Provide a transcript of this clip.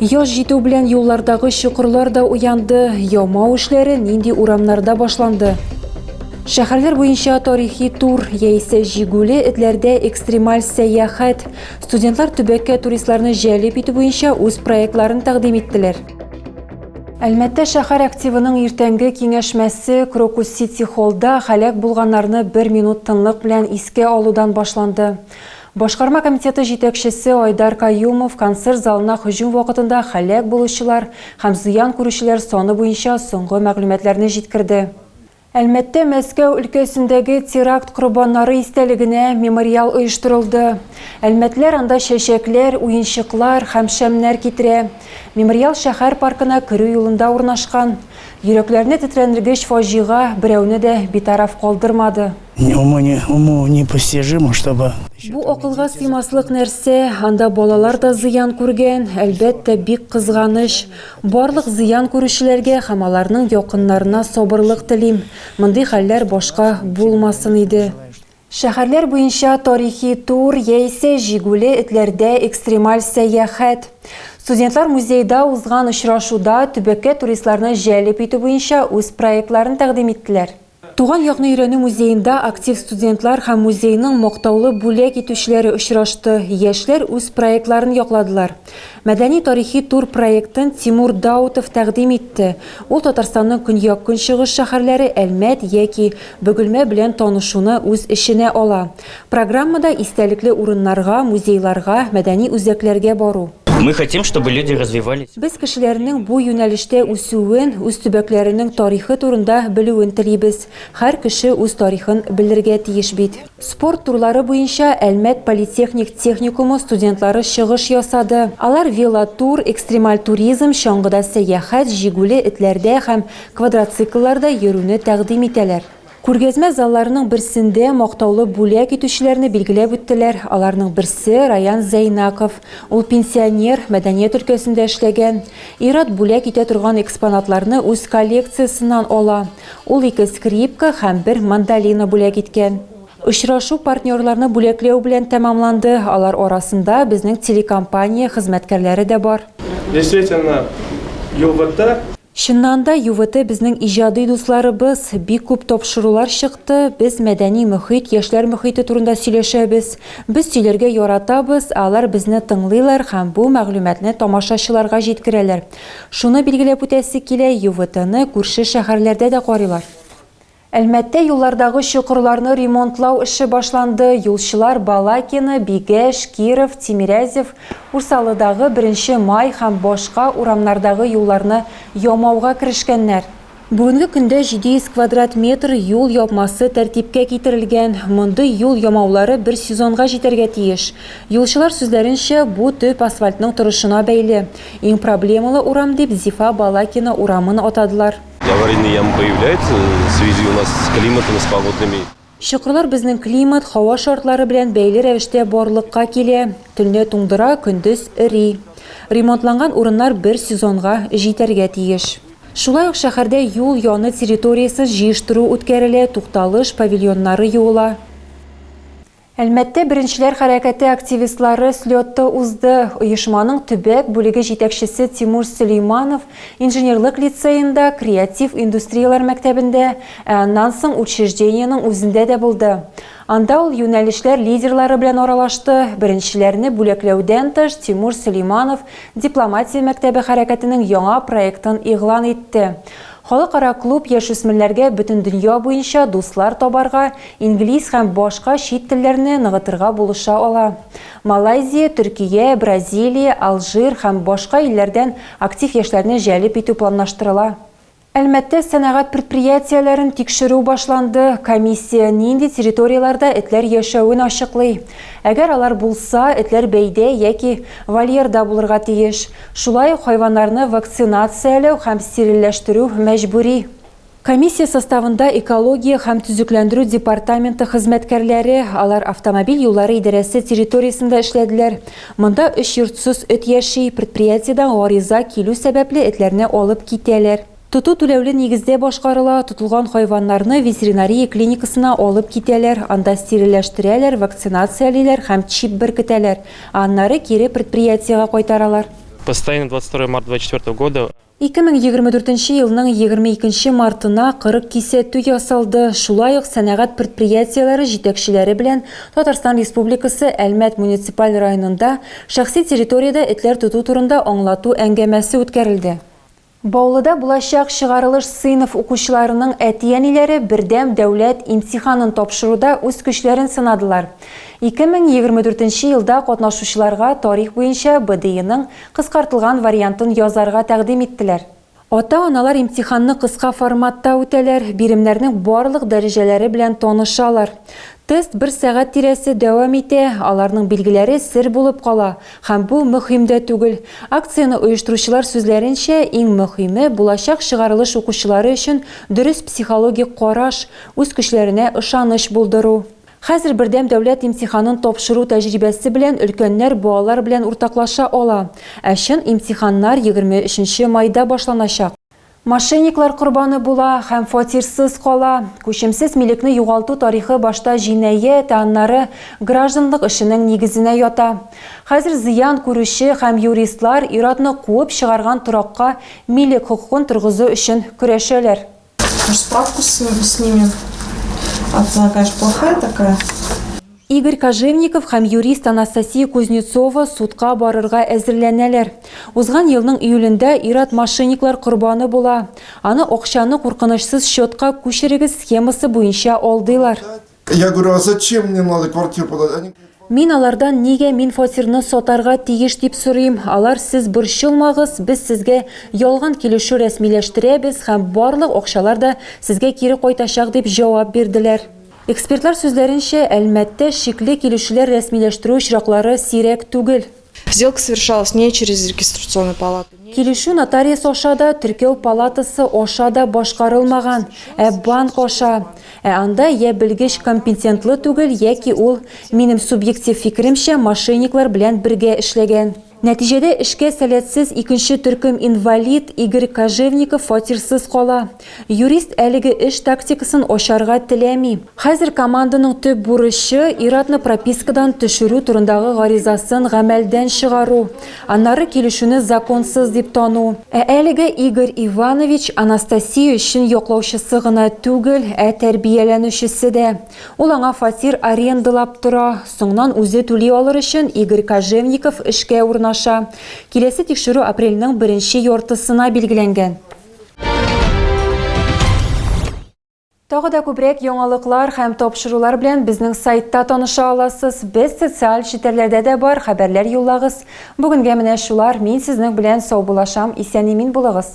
Яз җитү белән юллардагы чокырлар да уянды, ямау эшләре нинди урамнарда башланды? Шәһәрләр буенча тарихи тур яисә җигүле этләрдә экстремаль сәяхәт. Студентлар төбәккә туристларны җәлеп итү буенча үз проектларын тәкъдим иттеләр. Әлмәттә шәһәр активының иртәнге киңәшмәсе Крокус Сити холлда һәлак булганнарны бер минут тынлык белән искә алудан башланды. Башкарма комитеты җитәкчесе Айдар Каюмов концерт залына һөҗүм вакытында һәлак булучылар һәм зыян күрүчеләр саны буенча соңгы мәгълүматларны җиткерде. Әлмәттә Мәскәү өлкәсендәге теракт корбаннары истәлегенә мемориал оештырылды. Әлмәтлеләр анда чәчәкләр, уенчыклар һәм шәмнәр китерә. Мемориал шәһәр паркына керү юлында урнашкан. Йөрәкләрне тетрәндергеч фаҗига берәүне дә битараф калдырмады. Бу акылга сыймаслык нәрсә, анда балалар да зыян күргән, әлбәттә, бик кызганыч. Барлык зыян күрүчеләргә һәм аларның якыннарына сабырлык телим. Мондый хәлләр башка булмасын иде. Шәһәрләр буенча тарихи тур яисә җигүле этләрдә экстремаль сәяхәт. Студентлар музейда узган очрашуда төбәккә туристларны җәлеп итү буенча үз проектларын тәкъдим иттеләр. Туган якны өйрәнү музеенда актив студентлар һәм музейның мактаулы бүләк итүчеләре очрашты, яшьләр үз проектларын якладылар. Мәдәни-тарихи тур проектын Тимур Даутов тәкъдим итте, ул Татарстанның көньяк-көнчыгыш шәһәрләре Әлмәт яки Бөгелмә белән танышуны үз эченә ала. Программада истәлекле урыннарга, музейларга, мәдәни үзәкләргә бару. Мы хотим, чтобы люди развивались. Без кешеләрнең бу юнәлештә үсүен, үз төбәкләренең тарихы турында белүен телибез. Һәр кеше үз тарихын белергә тиеш бит. Спорт турлары буенча Әлмәт политехник техникумы студентлары чыгыш ясады. Алар велотур, экстремаль туризм, чаңгыда сәяхәт, җигүле этләрдә һәм квадроциклларда йөрүне тәкъдим итәләр. Күргәзмә залларының берсендә мактаулы бүләк итүчеләрне билгеләп үттеләр, аларның берсе, Раян Зәйнаков. Ул пенсионер, мәдәният өлкәсендә эшләгән. Ир-ат бүләк итә торган экспонатларны үз коллекциясеннән ала. Ул ике скрипка һәм бер мандолина бүләк иткән. Очрашу партнерларны бүләкләү белән тәмамланды, алар арасында безнең телекомпания хезмәткәрләре дә бар. Действительно, югыты. Чыннан да, ЮВТ безнең иҗади дусларыбыз, бик күп тапшырулар чыкты, без мәдәни мөхит, яшьләр мөхите турында сөйләшәбез. Без сөйләргә яратабыз, ә алар безне тыңлыйлар һәм бу мәгълүматны тамашачыларга җиткерәләр. Шуны билгеләп үтәсе килә, ЮВТны күрше шәһәрләрдә дә карыйлар. Әлмәттә юллардагы чокырларны ремонтлау эше башланды, юлчылар Балакино, Бигәш, Киров, Тимирязев, Урсалыдагы, Беренче Май һәм башка урамнардагы юлларны ямауга керешкәннәр. Бүгенге көндә 700 квадрат метр юл япмасы тәртипкә китерелгән. Мондый юл ямаулары бер сезонга җитәргә тиеш. Юлчылар сүзләренчә, бу төп асфальтның торышына бәйле. Иң проблемалы урам дип Зифа Балакино урамын атадылар. Аварийные ямы появляются в связи у нас с климатом, с погодными. Чокырлар безнең климат, һава шартлары белән бәйле рәвештә барлыкка килә. Төнлә туңдыра, көндез эри. Ремонтланган урыннар бер сезонга җитәргә тиеш. Шулай ук шәһәрдә юл яны территориясен җыештыру үткәрелә, тукталыш, павильоннары юыла. Әлмәттә Беренчеләр хәрәкәте активистлары слеты узды. Оешманың төбәк бүлеге җитәкчесе Тимур Сөләйманов Инженерлык лицеенда, Креатив индустрияләр мәктәбендә, ә аннан соң учреждениенең үзендә дә булды. Анда ул юнәлешләр лидерлары белән аралашты. Беренчеләрне бүләкләүдән тыш, Тимур Сөләйманов Дипломатия мәктәбе хәрәкәтенең яңа проектын игълан итте. Халыкара клуб яшүсмерләргә бөтендөнья буенча дуслар табарга, инглиз һәм башка чит телләрне ныгытырга булыша ала. Малайзия, Төркия, Бразилия, Алжир һәм башка илләрдән актив яшьләрне җәлеп итү планлаштырыла. Әлмәттә сәнәгать предприятиеләрен тикшерү башланды, комиссия нинди территорияләрдә этләр яшәвен ачыклый. Әгәр алар булса, этләр бәйдә яки вольерда булырга тиеш. Шулай ук хайваннарны вакцинацияләү һәм стерильләштерү мәҗбүри. Комиссия составында экология һәм төзекләндерү департаменты хезмәткәрләре, алар автомобиль юллары идарәсе территориясендә эшләделәр. Монда өч йортсыз эт яши, предприятиедән гариза килү сәбәпле этләрне алып китәләр. Тоту түләүле нигездә башкарыла, тотылган хайваннарны ветеринария клиникасына алып китәләр, анда стерильләштерәләр, вакцинациялиләр һәм чип беркетәләр, ә аннары кире предприятиегә кайтаралар. Постоянно двадцать второе марта двадцать четвертого года. Ике мең егерме дүртенче елның егерме икенче мартына кырык кисәтү ясалды, шулай ук сәнәгать предприятиеләре җитәкчеләре белән Татарстан Республикасы Әлмәт муниципаль районында шәхси территориядә этләр тоту турында аңлату әңгәмәсе үткәрелде. Баулыда булачак чыгарылыш сыйныф укучыларының әти-әниләре бердәм дәүләт имтиханын тапшыруда үз көчләрен сынадылар. 2024 елда катнашучыларга тарих буенча БДИның кыскартылган вариантын язарга тәкъдим иттеләр. Ата-аналар имтиханны кыска форматта үтәләр, биремнәрнең барлык дәрәҗәләре белән танышалар. Тест бер сәгать тирәсе дәвам итә, аларның билгеләре сер булып кала. Һәм бу мөһим дә түгел. Акцияне оештыручылар сүзләренчә, иң мөһиме, булачак чыгарылыш укучылары өчен дөрес психологик караш, үз көчләренә ышаныч булдыру. Хәзер бердәм дәүләт имтиханын тапшыру тәҗрибәсе белән өлкәннәр балалар белән уртаклаша ала. Ә чын имтиханнар егерме өченче майда башланачак. Мошенниклар корбаны була һәм фатирсыз кала. Күчемсез милекне югалту тарихы башта җинаять, ә аннары гражданлык эшенең нигезенә ята. Хәзер зыян күрүче һәм юристлар ир-атны куып чыгарган торакка милек хокукын торгызу өчен көрәшәләр. Аж справкасын снимем, отзнака аж плохая такая. Игорь Кожевников һәм юрист Анастасия Кузнецова судка барырга әзерләнәләр. Узган елның июлендә ир-ат мошенниклар корбаны була. Аны акчаны куркынычсыз счетка күчерегез схемасы буенча алдыйлар. Я говорю, а зачем мне надо квартиру продать? Они говорят, вам. Мин алардан нигә мин фатирны сатарга тиеш дип сорыйм. Алар сез борчылмагыз, без сезгә ялган килешү рәсмиләштерәбез һәм барлык акчалар да сезгә кире кайтачак дип җавап бирделәр. Экспертлар сүзләренчә, Әлмәттә шикле килүчеләр рәсмиләштерү очраклары сирәк түгел. Сделка совершалась не через регистрационную палату, не через. Килешү нотариус аша да, теркәү палатасы аша да башкарылмаган, ә банк аша. Ә анда йә белгеч компетентлы түгел, яки ул, минем субъектив фикеремчә, мошенниклар белән бергә эшләгән. Нәтиҗәдә эшкә сәләтсез икенче төркем инвалид Игорь Кожевников фатирсыз кала. Юрист әлеге эш тактикасын ачарга теләми. Хәзер команданың төп бурычы, ир-атны пропискадан төшерү турындагы гаризасын гамәлдән чыгару, аннары килешүне законсыз дип тану. Ә әлегә Игорь Иванович Анастасия өчен яклаучысы гына түгел, ә тәрбияләнүчесе дә. Ул аңа фатир арендалап тора, соңнан үзе түли алыр өчен Игорь Кожевников эшкә урнаша. Киләсе тикшерү апрельнең беренче яртысына билгеләнгән. Тагы да күбрәк яңалыклар һәм тапшырулар белән безнең сайтта таныша аласыз. Без социаль челтәрләрдә дә бар, хәбәрләр юллагыз. Бүгенгә менә шулар. Мин сезнең белән саубуллашам, исән-имин булыгыз.